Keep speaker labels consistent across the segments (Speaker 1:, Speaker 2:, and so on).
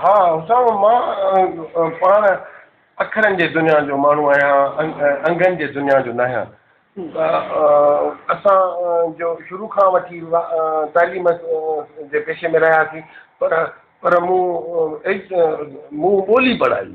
Speaker 1: ها حسام، مان پاڻ اکرن جي دنيا جو ماڻهو آهيان، انگن جي دنيا جو ناهيان. اسان جو شروع کان وٺي تعليم جي پيشي ۾ رهياسين پر مون ٻولي پڙهائي.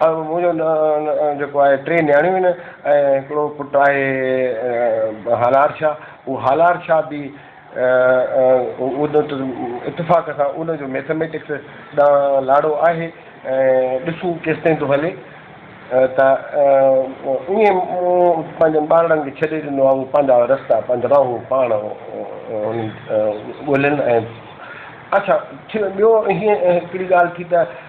Speaker 1: منهنجو نه جيڪو آهي ٽي نياڻيون آهن ۽ هڪڙو پٽ آهي هالار شاهه اهو هالار شاهه به اتفاق سان ان جو ميٿميٽڪس ڏانهن لاڙو آهي ۽ ڏسون ڪيستائين ٿو هلي ته ائين مون پنهنجن ٻارڙن کي ڇڏي ڏنو آهي هو پنهنجا رستا پنهنجا راهون پاڻ ڳولين ۽ اڇا ڇي ٻيو هيئن هڪڙي ڳالهه ٿي ته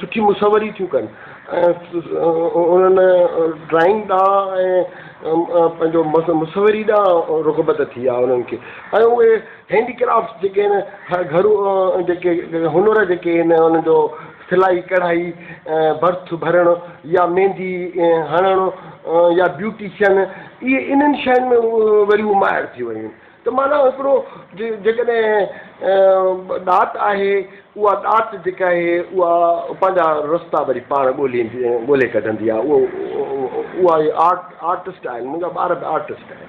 Speaker 1: سٺي مصوري ٿيون ڪن ۽ انهن ڊرائنگ ڏانهن ۽ پنهنجو مصوري ڏانهن رغبت ٿي آهي انهن کي ۽ اهي هينڊي ڪرافٽس جيڪي آهن گهرو جيڪي هنر جيڪي آهن انهن جو سلائي ڪڙهائي برٿ ڀرڻ يا ميندي هڻڻ يا بيوٽيشن اهي انهن شين ۾ وري ماهر ٿي ويون ته معنيٰ هڪڙو جيڪڏهن ڏات آهي، اها ڏات جيڪا آهي اها پنهنجا رستا وري پاڻ ڳولي ڪڍندي آهي. اها ئي آرٽ آرٽسٽ آهن، منهنجا ٻار به آرٽسٽ آهن.